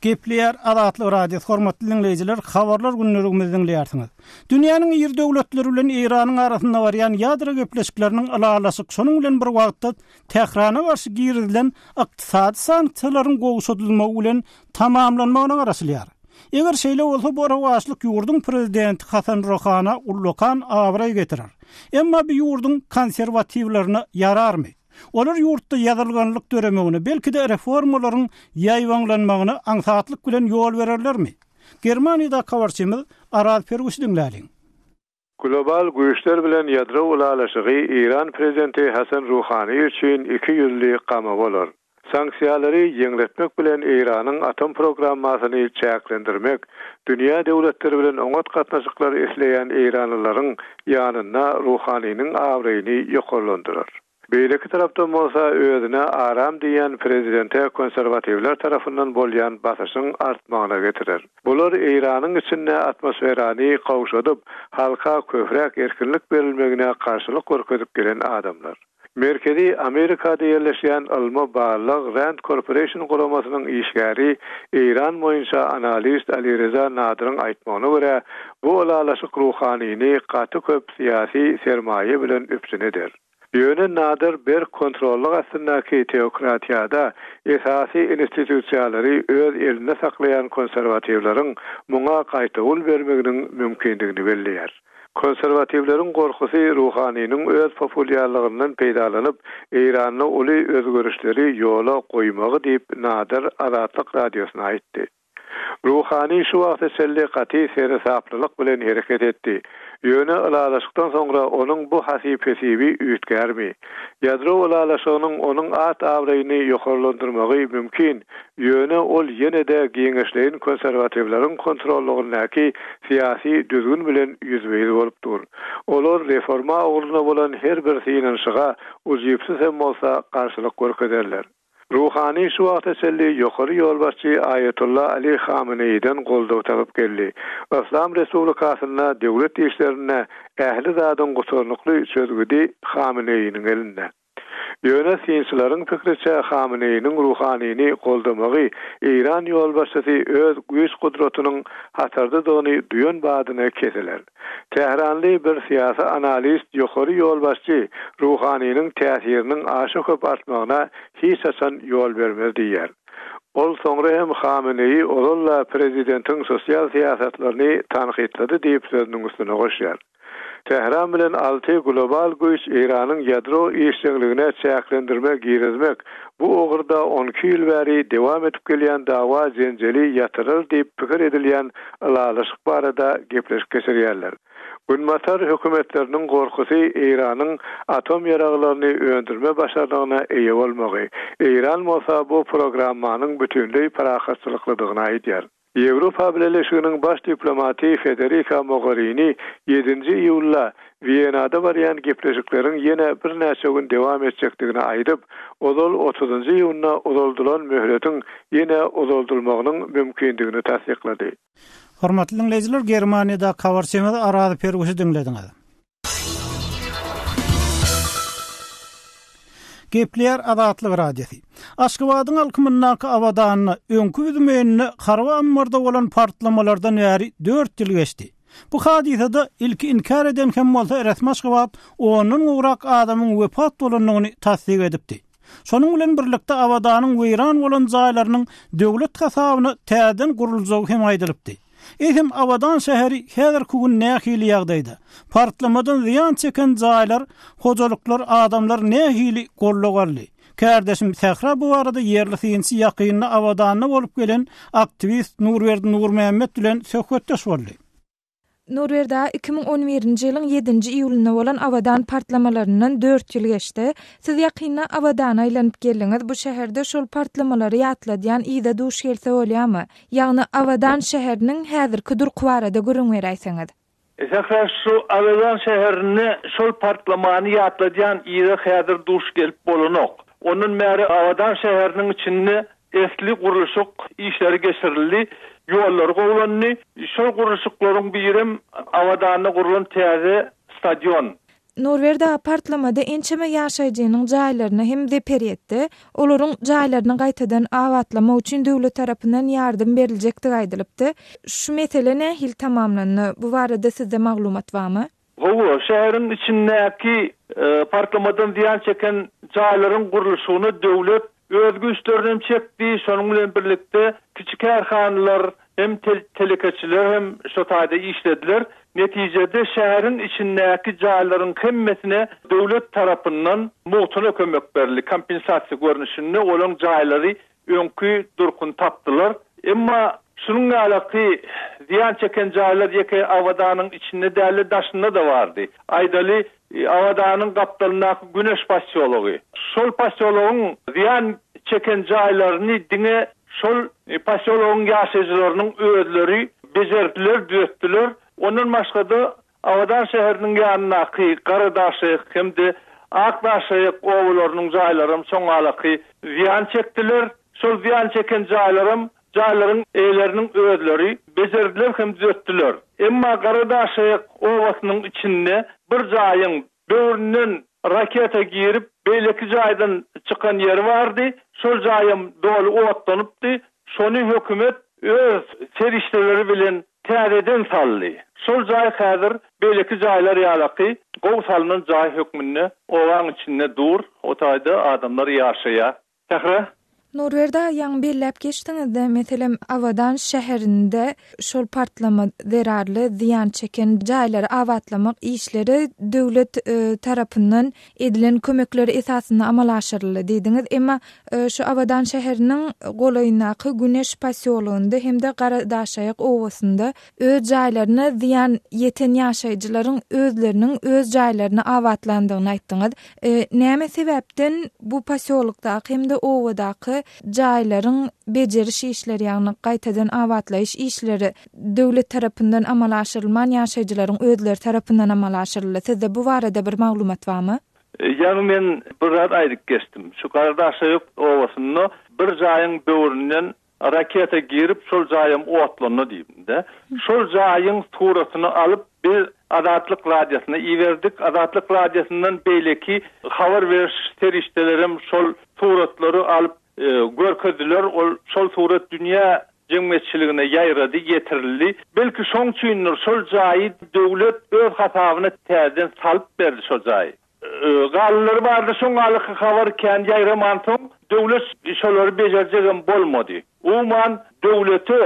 Gepleýär Azatlyk Radiosy, hormatly diňleýjiler, Habarlar günlüligimizi diňleýärsiňiz. Dünýäniň iri döwletleri bilen Eýranyň arasynda barýan ýadro gepleşikleriniň ylalaşyk, şonuň bilen bir wagtda Tährana garşy girizilen ykdysady sanksiýalaryň gowşadylmagy bilen tamamlanmagyna garaşylýar. Eger şeýle bolsa, bu rowaçlyk ýurduň prezidenti Hasan Rohana ullakan abraý getirer. Emma bu ýurduň konserwatiwlerine ýararmy? Olar ýurtda ýadyrganlyk döremegine, belki-de reformalaryň ýaýbaňlanmagyna aňsatlyk bilen ýol bererlermi? Germaniýadaky habarçymyz Araz Perwişi diňläliň. Global güýçler bilen ýadro ylalaşygy Eýran prezidenti Hasan Ruhani üçin iki ýüzli gama bolar. Sanksiýalary ýeňletmek bilen Eýranyň atom programmasyny çäklendirmek, dünýä döwletleri bilen oňat gatnaşyklar isleýän eýranlylaryň ýanynda Ruhaniniň abraýyny ýokarlandyrar. Beýleki tarapdan bolsa, özüne aram diýýän prezidente konserwatiwler tarapyndan bolýan basyşyň artmagyna getirer. Bular Eýranyň içinde atmosferany gawşadyp, halka köpräk erkinlik berilmegine garşylyk görkezip gelen adamlar. Merkezi Amerikada ýerleşýän ylmy-barlag Rand Corporation guramasynyň işgäri, Eýran boýunça analist Alireza Nadyryň aýtmagyna görä, bu ylalaşyk Ruhanini gaty köp syýasy sermaýa bilen üpjün eder. Ýöne Nadyr berk kontrollyk astyndaky teokratiýada esasy institusiýalary öz elinde saklaýan konserwatiwleriň muňa gaýtawul bermeginiň mümkindigini belleýär. Konserwatiwleriň gorkusy Ruhaniniň öz populýarlygyndan peýdalanyp, Eýranda uly özgerişleri ýola goýmagy diýip, Nader Azatlyk Radiosyna aýtdy. Ruhani şu wagta çenli gaty seresaplylyk bilen hereket etdi. Ýöne ylalaşykdan soňra onuň bu hasyp-hesibi üýtgärmi? Ýadro ylalaşygynyň onuň at-abraýyny ýokarlandyrmagy mümkin, Ýöne ol ýene-de giňişleýin konserwatiwleriň kontrollygyndaky syýasy düzgün bilen ýüzbe-ýüz bolup dur. Olar reforma ugrunda bolan her bir synanyşyga, ujypsyz hem bolsa, garşylyk görkezerler. Ruhani şu wagta çenli ýokary ýolbaşçy Aýatolla Ali Hameneýiden goldaw tapyp geldi. Yslam respublikasynda döwlet işlerinde ähli zadyň gutarnykly çözgüdi Hameneýiniň elinde. Ýöne synçylaryň pikriçe, Hameneýiniň Ruhanini goldamagy Eýran ýolbaşçysy öz güýç-gudratynyň hatardadygyny duýan badyna kesiler. Tähranly bir syýasy analist ýokary ýolbaşçy Ruhaniniň täsiriniň aşa köp artmagyna hiç haçan ýol bermez diýýär. Ol soňra hem Hameneýi ozal-da prezidentiň sosial syýasatlaryny tankytlady diýip sözüniň üstüne goşýar. Tähran bilen Alty global güýç Eýranyň ýadro işjeňligine çäklendirme girizmek, bu ugurda on iki ýyl bäri dowam edip gelýän dawa-jenjeli ýatyrar diýip pikir edilýän ylalaşyk barada gepleşik geçirýärler. Günbatar hökümetleriniň gorkusy Eýranyň atom ýaraglaryny öndürme başarnygyna eýe bolmagy, Eýran bolsa bu programmanyň bütinleý parahatçylyklydygyny aýdýar. Ýewropa Bileleşiginiň baş diplomaty Federika Mogarini ýedinji iýulda Wienada barýan gepleşikleriň ýene birnäçe gün dowam etjekdigini aýdyp, ozal otuzynjy iýunda uzaldylan möhletiň ýene uzaldylmagynyň mümkindigini tassyklady. Hormatly diňleýjiler, Germaniýadaky habarçymyzy Araz Perguşy diňlediňiz. Gepleýär Azatlyk Radiosy. Aşgabadyň alkymyndaky Abadanda, öňki Büzmeýinde harby ammarda bolan partlamalardan bäri dört ýyl geçdi. Bu hadysada ilki inkär eden hem bolsa resmi Aşgabat ondan gowrak adamyň wepat bolandygyny tassyk edipdi. Şonuň bilen birlikde Abadanyň weýran bolan jaýlarynyň döwlet hasabyna täzeden guruljagy hem aýdylypdy. Eýsem, Abadan şäheri häzirki gün nähili ýagdaýda? Partlamadan zyýan çeken jaýlar, hojalyklar, adamlar nähili gollag aldy? Kärdeşim Sähra bu barada ýerli synçy, ýakynda Abadanda bolup gelen aktiwist Nurberdi Nurmämmet bilen söhbetdeş boldy. Nurberdi aga, iki müň on birinji ýylyň ýedinji iýulynda bolan Abadan partlamalaryndan dört ýyl geçdi. Siz ýakynda Abadana aýlanyp geldiňiz. Bu şäherde şol partlamalary ýatladýan yza duş gelse bolýarmy? Ýagny Abadan şäheriniň häzirki durky barada gürrüň beräýseňiz. Sähra şu Abadan şäherinde şol partlamany ýatladýan yza häzir duş gelip bolanok. Ondan bäri Abadan şäheriniň içinde esli gurluşyk işleri geçirildi, ýollar gowlandy. Şol gurluşyklaryň birem Abadanda gurlan täze stadion. Nurberdi aga partlamada ençeme ýaşaýjynyň jaýlaryna hem zeper ýetdi. Olaryň jaýlaryny gaýtadan abatlamak üçin döwlet tarapyndan ýardam beriljekdigi aýdylypdy. Şu mesele nähili tamamlandy? Bu barada sizde maglumat barmy? Hawa, şäheriň içindäki partlamadan zyýan çeken jaýlaryň gurluşygyna döwlet öz güýçlerini hem çekdi, şonuň bilen birlikde kiçi kärhanalar hem telekeçiler hem şo taýda işlediler. Netijede şäheriň içindäki jaýlaryň hemmesine döwlet tarapyndan mugtuna kömek berildi, kompensasiýa görnüşinde olaryň jaýlary öňki durkuny tapdylar. Emma şunuň ýalaky zyýan çeken jaýlar ýeke Awada-nyň içinde däl-de daşynda-da bardy. Aýdaly, I Awadaňyň gapdalyndaky Güneş posýology. Şol posýologyň zyýan çeken jaýlaryny diňe şol posýologyň ýaşaýjylarynyň özleri bejerdiler, düzetdiler. Ondan başga-da, Awadan şäheriniň ýanyndaky Garadaşaýak hem-de Akdaşaýak obalarynyň jaýlaram soňalaky zyýan çekdiler. Şol zyýan çeken jaýlaram Jaýlaryň eýeleriniň özleri bejerdiler hem düzetdiler. Emma Garadaşaýak obasynyň içinde bir jaýyň böwründen raketa girip, beýleki jaýdan çykan ýeri bardy. Şol jaýam doly otlanypdy. Şony hökümet öz serişdeleri bilen täzeden saldy. Şol jaý häzir beýleki jaýlar ýalaky gowy salnan jaý hökmünde obaň içinde dur, o taýda adamlar ýaşaýar. Sähra. Nurberdi aga ýaňy belläp geçdiňizde, meselem, Abadan şäherinde şol partlama zerarly zyýan çeken jaýlary abatlamak işleri döwlet tarapyndan edilen kömekler esasynda amala aşyryldy diýdiňiz. Emma şu Abadan şäheriniň golaýyndaky Güneş posýologynda hem-de Garadaşaýak obasynda Öz jaýlaryna zyýan ýeten ýaşaýjylaryň özleriniň öz jaýlaryny abatlandygyny aýtdyňyz. Näme sebäpden bu posýolokdaky hem-de obadaky jaýlaryň bejeriş işleri, ýagny gaýtadan abatlaýyş işleri döwlet tarapyndan amala aşyrylman, ýaşaýjylaryň özleri tarapyndan amala aşyryldy? Sizde bu barada bir maglumat barmy? Ýagny men bir zat aýdyp geçdim. Şu Garadaşaýok obasynda bir jaýyň böwründen Raketa girip şol jaýam otlandy diýdi. Şol jaýyň suratyny alyp biz Azatlyk radiosyna iberdik. Azatlyk radiosyndan beýleki habar beriş serişdelerem şol suratlary alyp görkezdiler. Ol şol surat dünýä jemgyýetçiligine ýaýrady, ýetirildi. Belki şoň üçindir şol jaýy döwlet öz hasabyna täzeden salyp berdi şo jaýy. Galynlary bardy, şoň alyky habar kän ýaýramansoň, döwlet şolary bejerjegem bolmady. Umuman, döwlete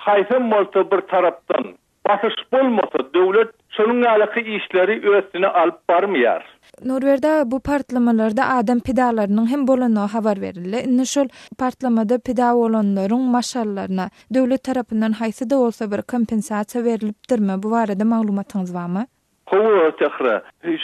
haýsam bolsa bir tarapdan basyş bolmasa, döwlet şonuň ýalyky işleri östüne alyp barmaýar. Nurberdi aga, bu partlamalarda adam pidalarynyň hem bolandygy habar berildi. Indi şol partlamada pida bolanlaryň maşgallaryna döwlet tarapyndan haýsy-da bolsa bir kompensasiýa berlipdirmi? Bu barada maglumatyňyz barmy? Gowy Sähra.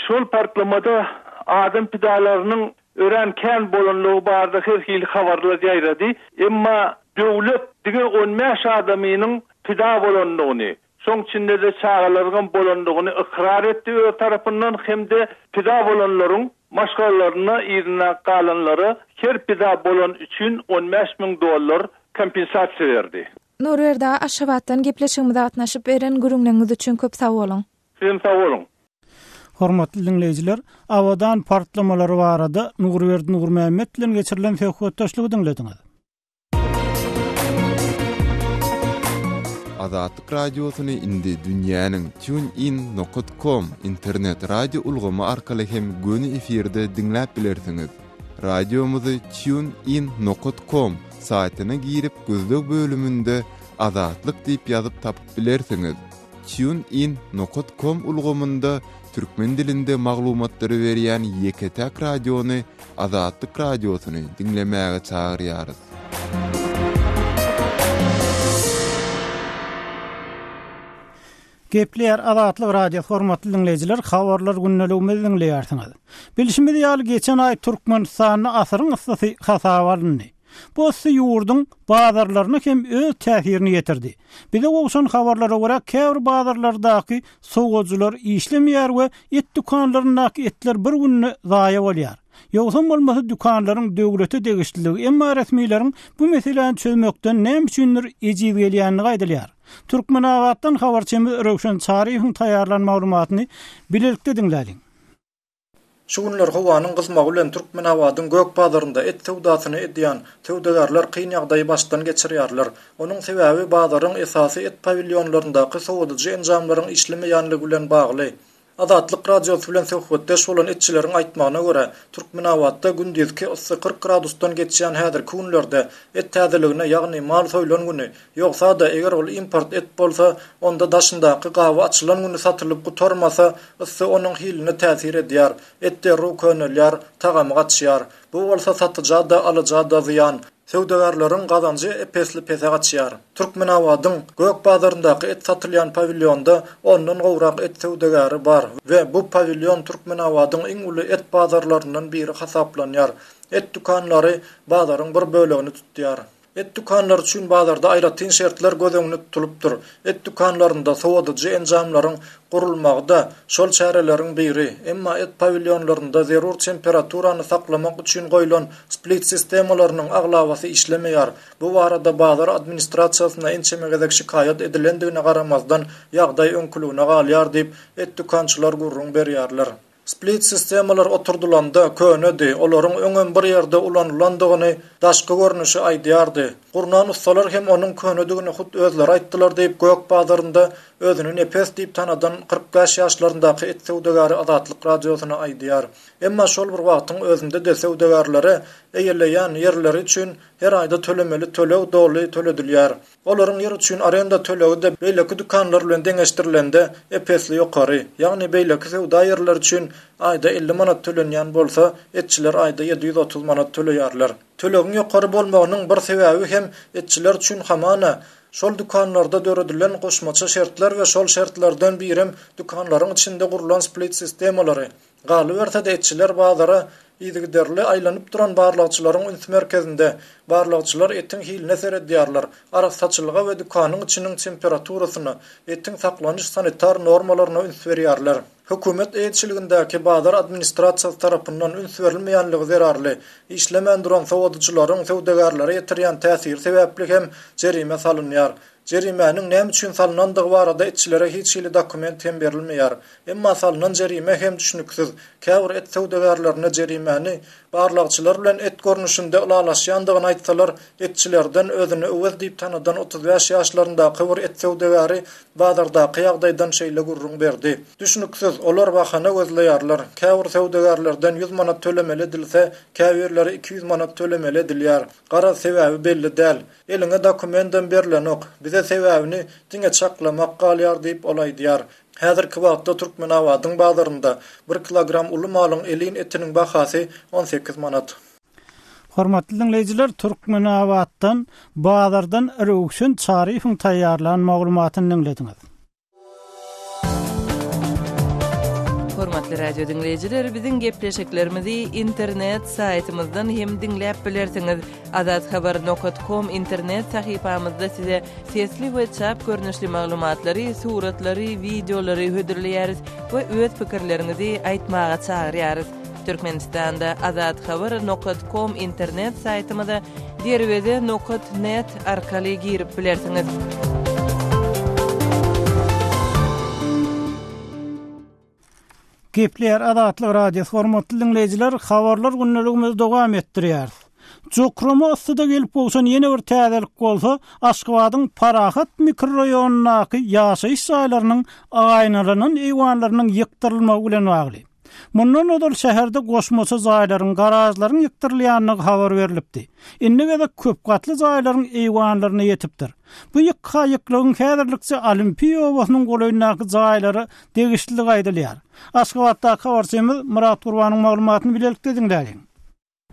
Şol partlamada adam pidalarynyň örän kän bolanlygy barada her hili habarlar ýaýrady. Emma döwlet diňe on bäş adamynyň pida bolandygyny, şoň içinde-de çagalaryňam bolandygyny ykrar etdi öz tarapyndan hem-de pida bolanlaryň maşgalalaryna yzyna galanlara her pida bolan üçin on bäş müň dollar kompensasiýa berdi. Nurberdi aga Aşgabatdan gepleşigimize gatnaşyp beren gürüňleňiz üçin köp sag boluň. Siz hem sag boluň. Hormatly diňleýjiler, Abadan partlamalary barada Nurberdi Nurmämmet bilen geçirilen söhbetdeşligi diňlediňiz. Azatlyk Radiosyny indi dünýäniň TuneIn nokat kom internet radio ulgamy arkaly hem göni efirde diňläp bilersiňiz. Radiomyzy Tune In nokat kom saýtyna girip gözleg bölüminde Azatlyk diýip ýazyp tapyp bilersiňiz. Tune In nokat kom ulgamynda türkmen dilinde maglumatlary berýän ýeke-täk radiony Azatlyk radiosyny diňlemäge çagyrýarys. Gepleýär Azatlyk Radiosy Hormatly diňleýjiler, Habarlar gündeligimizi diňleýärsiňiz. Bilşimiz ýaly, geçen aý Türkmenistanda asyryň yssysy hasaba alyndy. Bu yssy ýurduň bazarlaryna hem öz täsirini ýetirdi. Bize gowşan habarlara görä, käbir bazarlardaky sowujylar işlemeýär we et dükanlaryndaky etler bir günde zaýa bolýar. Ýogsam bolmasa dükanlaryň döwlete degişlidigi, emma resmileriň bu meseläni çözmekden näme üçindir ejiz gelýändigi aýdylýar. Türkmenabatdan habarçymyz Röwşen Çaryýewiň taýýarlan maglumatyny bilelikde diňläliň. Şu günler howanyň gyzmagy bilen Türkmenabadyň gök bazarynda et söwdasyny edýän söwdagärler kyn ýagdaýy başdan geçirýärler. Onuň sebäbi bazaryň esasy et pawilýonlaryndaky sowadyjy enjamlaryň işlemeýänligi bilen bagly. Azatlyk Radiosy bilen söhbetdeş bolan etçileriň aýtmagyna görä, Türkmenabatda gündizki yssy kyrk gradusdan geçýän häzirki günlerde et täzeligine, ýagny mal soýlan güni, ýogsa-da, eger ol import et bolsa, onda daşyndaky gaby açylan güni satylyp gutarmasa, yssy onuň hiline täsir edýär. Et derrew könelýär, tagamy gaçýar. Bu bolsa satyja-da, alyja-da zyýan. Söwdagärleriň gazanjy ep-esli pese gaçýar. Türkmenabadyň Gök bazaryndaky et satylýan pawilýonda ondan gowrak et söwdagäri bar we bu pawilýon Türkmenabadyň iň uly et bazarlaryndan biri hasaplanýar. Et dükanlary bazaryň bir bölegini tutýar. Et dükanlary üçin bazarda aýratyn şertler göz öňünde tutulypdyr. Et dükanlarynda sowadyjy enjamlaryň gurulmagy-da şol çäreleriň biri, emma et pawilýonlarynda zerur temperaturany saklamak üçin goýlan split sistemalarynyň aglabasy işlemeýär. Bu barada bazar administrasiýasyna ençeme gezek şikaýat edilendigine garamazdan, ýagdaý öňküligine galýar diýip, et dükançylar gürrüň berýärler. Split sistemalar oturdylanda könedi, olaryň öňem bir ýerde ulanylandygyny daşky görnüşi aýdýardy. Gurnan ussalar hem onuň könedigini hut özleri aýtdylar diýip gök bazarynda özüni Nepes diýip tanadan kyrk bäş ýaşlaryndaky et söwdagäri Azatlyk Radiosyna aýdýar. Emma şol bir wagtyň özünde-de söwdagärlere eýeleýän ýerleri üçin her aýda tölemeli töleg doly töledilýär. Olaryň ýer üçin arenda tölegi-de beýleki dükanlar bilen deňeşdirilende ep-esli ýokary. Ýagny beýleki söwda ýerleri üçin aýda elli manat tölenýän bolsa, etçiler aýda ýedi ýüz otuz manat töleýärler. Tölegiň ýokary bolmagynyň bir sebäbi hem etçiler üçin hamana, şol dükanlarda döredilen goşmaça şertler we şol şertlerden birem dükanlaryň içinde gurlan split-sistemalary. Galyberse-de, etçiler bazara yzygiderli aýlanyp duran barlagçylaryň üns merkezinde. Barlagçylar etiň hiline seredýärler, arassaçylyga we dükanyň içiniň temperaturasyna, etiň saklanyş sanitar normalaryna üns berýärler. Hökümet eýeçiligindäki bazar administrasiýasy tarapyndan üns berilmeýänligi zerarly, işlemän duran sowadyjylaryň söwdagärlere ýetirýän täsiri sebäpli hem jerime salynýar. Jerimäniň näme üçin salnandygy barada etçilere hiç hili dokument hem berilmeýär. Emma salnan jerime hem düşnüksiz. Käbir et söwdagärlerine jerimäni barlagçylar bilen et görnüşinde ylalaşýandygyny aýtsalar, etçilerden özüni Öwez diýip tanadan otuz bäş ýaşlaryndaky bir et söwdagäri bazardaky ýagdaýdan şeýle gürrüň berdi, Düşnüksiz, olar bahana gözleýärler. Käbir söwdagärlerden ýüz manat tölemeli edilse, käbirleri iki ýüz manat tölemeli edilýär. Garaz, sebäbi belli däl. Eliňe dokumentem berlenok. Bize sebäbini diňe çaklamak galýar diýip, ol aýdýar. Häzirki wagtda Türkmenabadyň bazarynda bir kilogram uly malyň elin etiniň bahasy on sekiz manat. Hormatly diňleýjiler, Türkmenabatdan, bazardan Röwşen Çaryýewiň taýýarlan maglumatyny diňlediňiz. Hormatly radio diňleýjiler, biziň gepleşiklerimizi internet saýtymyzdan hem diňläp bilersiňiz. Azathaber.com internet sahypamyzda size sesli we çap görnüşli maglumatlary, suratlary, wideolary hödürleýäris we öz pikirleriňizi aýtmaga çagyrýarys. Türkmenistanda Azat Haber nokat kom internet saýtymyza derweze nokat net arkaly girip bilersiňiz. Gepleýär Azatlyk Radiosy. Hormatly diňleýjiler, habarlar gündeligimizi dowam etdirýäris. Jokrama yssyda gelip gowşan ýene bir täzelik bolsa, Aşgabadyň Parahat mikroraýonyndaky ýaşaýyş jaýlarynyň aýnalanan eýwanlarynyň ýykdyrylmagy bilen bagly. Mundan ozal şäherde goşmaça jaýlaryň, garažlaryň ýykdyrylýandygy habar berlipdi. Indi gezek köp gatly jaýlaryň eýwanlaryna ýetipdir. Bu ýykga ýyklygyň häzirlikçe Olimpiýa obasynyň golaýyndaky jaýlara degişlidigi aýdylýar. Aşgabatdaky habarçymyz Myrat Gurbanyň maglumatyny bilelikde diňläliň.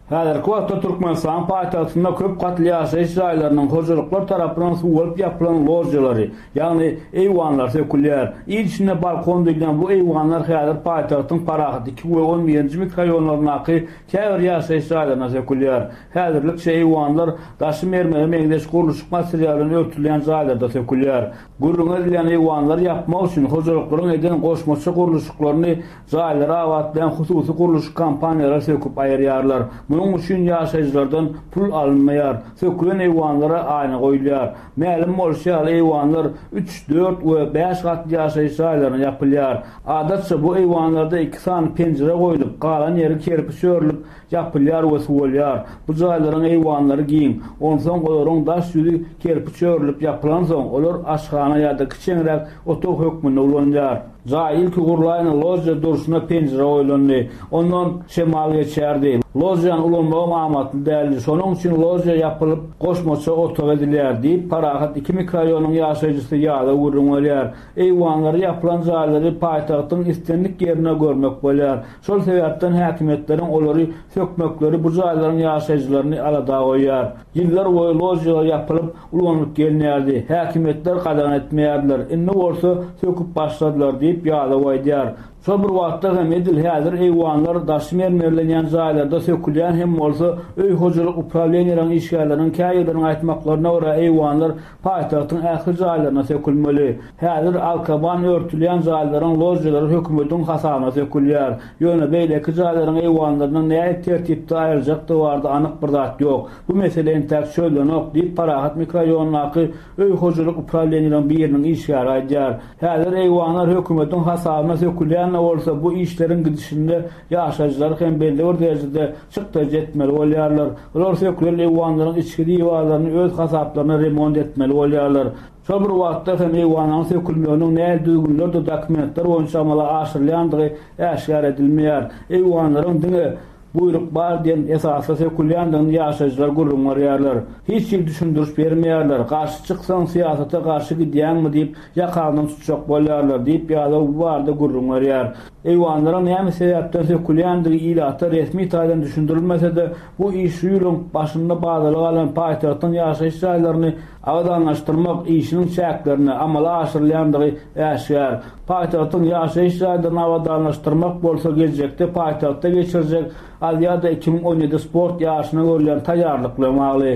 Häzirki wagtda Türkmenistanyň paýtagtynda köp gatly ýaşaýyş jaýlarynyň hojalyklar tarapyndan suwaryp ýapylan ložýalary, ýagny eýwanlar sökülýär. Il içinde balkon diýilýän bu eýwanlar häzir paýtagtyň Parahat iki we on birinji mikroýonlaryndaky käbir ýaşaýyş jaýlaryna sökülýär. Häzirlikçe eýwanlar daşy mermere meňzeş gurluşyk materialy bilen örtülýän jaýlarda sökülýär. Gürrüňi edilýän eýwanlary ýapmak üçin hojalyklaryň eden goşmaça gurluşyklaryny Jaýlary abatlaýan hususy gurluşyk kompaniýalary söküp aýyrýarlar. Munuň üçin ýaşaýjylardan pul alynmaýar. Sökülen eýwanlara aýna goýulýar. Mälim bolşy ýaly, eýwanlar üç, dört we bäş gatly ýaşaýyş jaýlaryna ýapylýar. Adatça, bu eýwanlarda iki sany penjire goýlup, galan ýeri kerpiç örülip, ýapylýar we suwalýar. Bu jaýlaryň eýwanlary giň. Onsoň olaryň daş ýüzi kerpiç örülip ýapylansoň, olar aşhana ýa-da kiçeňräk otag hökmünde ulanylýar. Jaý ilki gurlaýyna ložýa durşuna penjire goýlandy. Ondan şemal geçýärdi. Ložýany ulanmagam amatly däldi. Şonuň üçin ložýa ýapylyp, goşmaça otag edilýär, diýip, parahat iki mikrorýonyň ýaşaýjysy ýada gürrüň berýär. Eýwanlary ýapylan jaýlary paýtagtyň islendik ýerinde görmek bolýar. Şol sebäpden häkimiýetleriň olary sökmekleri bu jaýlaryň ýaşaýjylaryny alada goýýar. Ýyllar boýy ložýalar ýapylyp, ulanylyp gelinýärdi. Häkimiýetler gadagan etmeýärdiler. Indi bolsa söküp başladylar diýip, ýadaw aýdýar. Şol bir wagtda hem edil häzir eýwanlar daşy mermerlenýän jaýlarda sökülýän hem bolsa, öý hojalyk uprawleniýeleriň işgärleriniň käýerleriniň aýtmaklaryna görä, eýwanlar Paýtagtyň ähli jaýlaryna sökülmeli. Häzir arkaban örtülýän jaýlaryň ložýalary hökümetiň hasabyna sökülýär. Ýöne beýleki jaýlaryň eýwanlarynyň nähili tertipde aýryljakdygy barada anyk bir zat ýok. Bu mesele entäk çözlenok, diýip, Parahat mikroraýonyndaky öý hojalyk uprawleniýeleriň biriniň işgäri aýdýar. Häzir eýwanlar hökümetiň hasabyna sökülýän-de bolsa, bu işleriň gidişinde ýaşaýjylar hem belli bir derejede çykdaýjy etmeli bolýarlar. Olar sökülen eýwanlaryň içki diwarlaryny öz hasaplaryna remont etmeli bolýarlar. Şol bir wagtda hem eýwanlaryň sökülmeginiň nähili düzgünlerde dokumentler boýunça amala aşyrylýandygy äşgär edilmeýär. Eýwanlaryň diňe Buýruk bar diýen esasda sökülýändigini ýaşaýjylar gürrüň berýärler. Hiç hili düşündiriş bermeýärler. Garşy çyksaň, syýasata garşy gidýäňmi diýip, ýakaňdan tutjak bolýarlar diýip, ýadaw bu barada gürrüň berýär. Eýwanlaryň näme sebäpden sökülýändigi ilata resmi taýdan düşündirilmese-de, bu iş şu ýylyň başynda badaly galan paýtagtyň ýaşaýyş jaýlaryny abadanlaşdyrmak işiniň çäklerinde amala aşyrylýandygy äşgär. Paýtagtyň ýaşaýyş jaýlaryny abadanlaşdyrmak bolsa geljekde paýtagtda geçirjek Aziada iki müň on ýedi sport ýaryşyna görülýän taýýarlyk bilen bagly.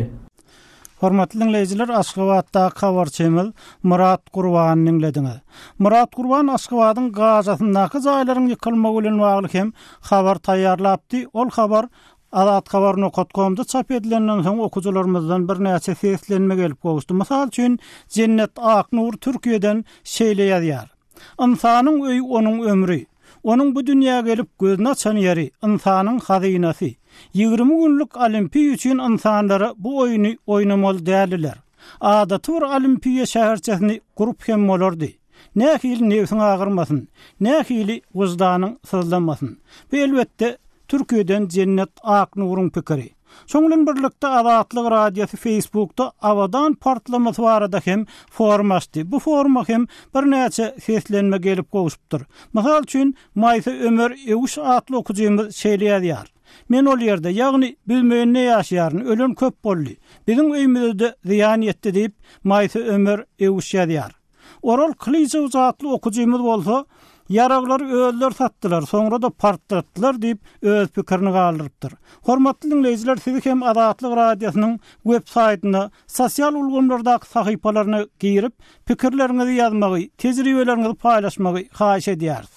Hormatly diňleýjiler, Aşgabatdaky habarçymyz Myrat Gurbany diňlediňiz. Myrat Gurban Aşgabadyň gazasyndaky jaýlaryň ýykylmagy bilen bagly hem habar taýýarlapdy. Ol habar Azat habar nokat komda çap edilenden soň okyjylarymyzdan birnäçe seslenme gelip gowuşdy. Mysal üçin, Jennet Aknur Türkiýeden şeýle ýazýar. Ynsanyň öýi onuň ömri. Onuň bu dünýä gelip gözüni açan ýeri, ynsanyň hazynasy. Ýigrimi günlük Olimpiýa üçin ynsanlara bu oýny oýnamaly däldiler. Adaty bir Olimpiýa şäherçesini gurup hem bolardy. Nähili nebsiň agyrmasyn, nähili wyždanyň syzlamasyn. Bu elbetde Türkiýeden Jennet Aknuryň pikiri. Şoň bilen birlikde Azatlyk Radiosy Facebookda Abadan partlamasy barada hem forum açdy. Bu foruma hem birnäçe seslenme gelip gowşupdyr. Mysal üçin, Maýsa Ömer Ewüş atly okyjymyz şeýle ýazýar, Men ol ýerde, ýagny Büzmeýinde ýaşaýaryn, ölen köp boldy. Biziň öýmüze-de zyýan ýetdi diýip, Maýsa Ömer Ewüş ýazýar. Oral Kylyjow atly okyjymyz bolsa, Ýaraglary özleri satdylar, soňra-da partlatdylar diýip, öz pikirini galdyrypdyr. Hormatly diňleýjiler, sizi hem Azatlyk Radiosynyň web saýtyna, sosial ulgamlardaky sahypalaryna girip, pikirleriňizi ýazmagy, tejribeleriňizi paýlaşmagy haýyş edýäris.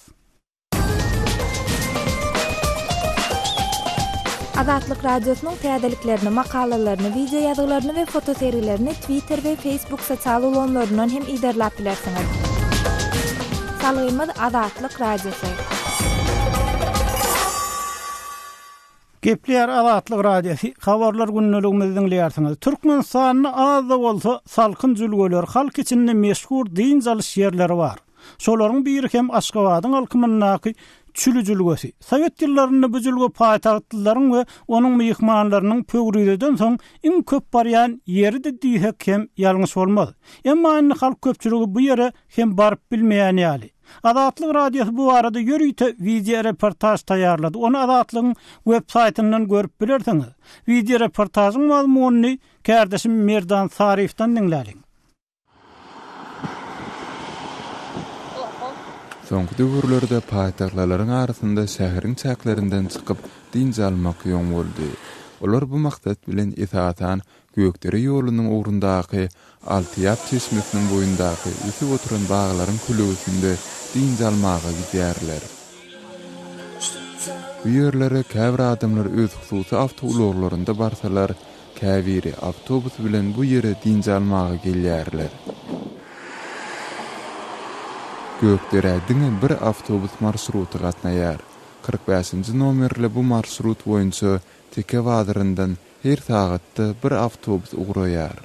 Azatlyk Radiosynyň täzeliklerini, makalalaryny, wideoýazgylaryny we fotosergilerini Twitter we Facebook sosial ulgamlaryndan hem yzarlap bilersiňiz. Salgymyz Azatlyk Radiosy. Gepleýär Azatlyk Radiosy. Habarlar gündeligimizi diňleýärsiňiz. Türkmenistanda az-da bolsa salkyn jülgeler, halk içinde meşhur dynç alyş ýerleri bar. Şolaryň biri hem Aşgabadyň alkymyndaky Çüli jülgesi. Sowet ýyllarynda bu jülge paýtagtlylaryň we onuň myhmanlarynyň Pöwrizeden soň iň köp barýan ýeridi diýsek hem ýalňyş bolmaz. Emma indi halk köpçüligi bu ýere hem baryp bilmeýän ýaly. Azatlyk Radiosy bu barada ýörite wideoreportaž taýýarlady. Ony Azatlygyň websaýtyndan görüp bilersiňiz. Wideoreportažyň mazmunyny kärdeşim Merdan Saryýewden diňläliň. Soňky döwürlerde paýtagtlylaryň arasynda şäheriň çäklerinden çykyp, dynç almak ýoň boldy. Olar bu maksat bilen esasan Gökdere ýolunyň ugrundaky Altyýap çeşmesiniň boýundaky ösüp oturan baglaryň kölegesinde dynç almaga gidýärler. Bu ýerlere käbir adamlar öz hususy awtoulaglarynda barsalar, Käbiri awtobus bilen bu ýere dynç almaga gelýärler. Gökderä diňe bir awtobus marşruty gatnaýar. Kyrk bäşinji nomerli bu marşrut boýunça Teke bazaryndan her sagatda bir awtobus ugraýar.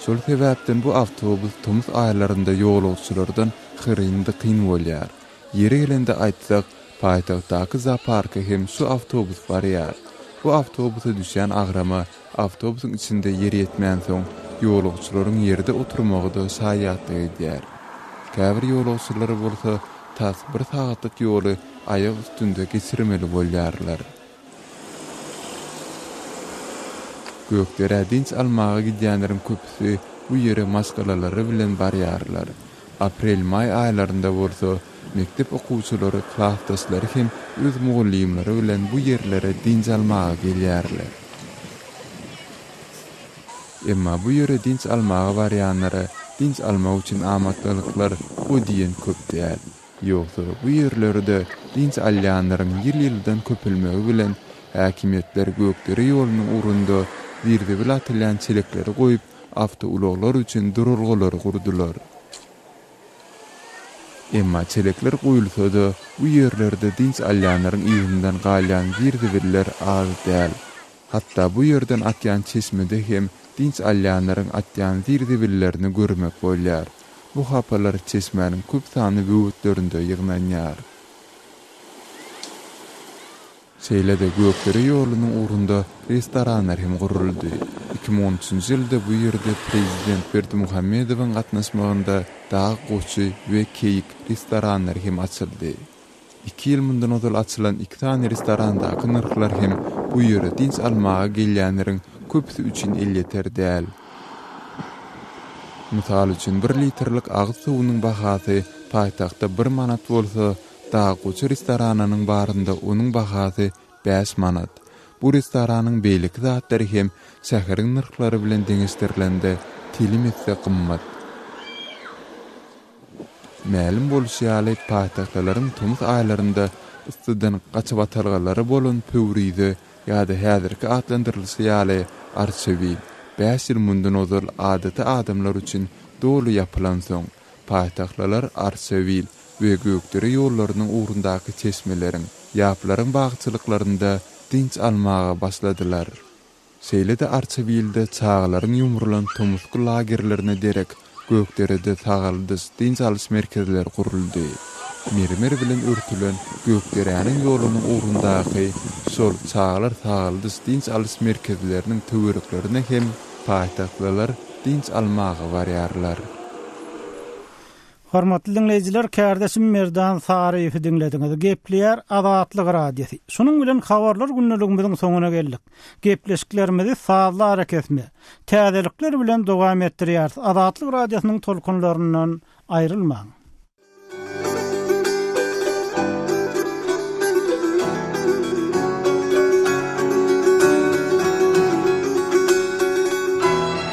Şol sebäpden bu awtobus tomus aýlarynda ýolagçylardan hyryn-dykyn bolýar. Ýeri gelende aýtsak, paýtagtdaky zooparka hem şu awtobus barýar. Bu awtobusa düşýän agrama awtobusyň içinde ýer ýetmänsoň, ýolagçylaryň ýerde oturmagy-da şaýatlyk edýär. Käbir ýolagçylar bolsa tas bir sagatlyk ýoly aýak üstünde geçirmeli bolýarlar. Gökderä dynç almaga gidýänleriň köpüsi bu ýere maşgalalary bilen barýarlar. Aprel-maý aýlarynda bolsa mekdep okuwçylary, klasdaşlary hem öz mugallymlary bilen bu ýerlere dynç almaga gelýärler. Emma bu ýere dynç almaga barýanlara dynç almak üçin amatdalyklar o diýen köp däl. Ýogsa, bu ýerlerde dynç alýanlaryň ýyl-ýyldan köpelmegi bilen, häkimiýetler Gökdere ýolunyň ugrunda zir-zibil atylýan çelekleri goýup, awtoulaglar üçin duralgalary gurdular. Emma çelekler goýulsa-da, bu ýerlerde dynç alýanlaryň yzyndan galýan zir-zibiller az däl. Hatda bu ýerden akýan çeşmede hem dynç alýanlaryň atýan zir-zibillerini görmek bolýar. Bu hapalar çeşmäniň köp sanly böwetlerinde ýygnanýar. Şeýle-de Gökdere ýolunyň ugrunda restoranlar hem guruldy. Iki müň on üçünji ýylda bu ýerde prezident Berdimuhamedowyň gatnaşmagynda Dag goçy we Keýik restoranlary hem açyldy. Iki ýyl mundan ozal açylan iki sany restorandaky nyrhlar hem bu ýere dynç almaga gelýänleriň köpüsi üçin elýeter däl. Mysal üçin, bir litrlik agyz suwunyň bahasy paýtagtda bir manat bolsa, Daggoçy restoranynyň barynda onuň bahasy bäş manat. Bu restoranyň beýleki zatlary hem şäheriň nyrhlary bilen deňeşdirilende telim esse gymmat. Mälim bolşy ýaly, paýtagtalaryň tomus aýlarynda yssydan gaçybatalgalary bolan Pöwrize ýa-da häzirki atlandyrylyşy ýaly Arçewi, bäş ýyl mundan ozal adaty adamlar üçin doly ýapylansoň, paýtagtlylar Arçewil we Gökdere ýollarynyň ugrundaky çeşmeleriň, ýaplaryň bagçylyklarynda dynç almaga başladylar. Şeýle-de Arçabilde çagalaryň ýumrulan tomusky lagerlerine derek Gökderede sagaldyş, dynç alyş merkezleri guruldy. Mermer bilen örtülen Gökderäniň ýolunyň ugrundaky şol çagalar sagaldyş, dynç alyş merkezleriniň töwereklerine hem paýtagtlylar dynç almaga barýarlar. Hormatly diňleýjiler, kärdeşim Merdan Saryýewi diňlediňiz. Gepleýär Azatlyk Radiosy. Şunuň bilen Habarlar gündeligimiziň soňuna geldik. Gepleşiklerimizi sazly arakesme, täzelikler bilen dowam etdirýäris, Azatlyk Radiosynyň tolkunlaryndan aýrylmaň!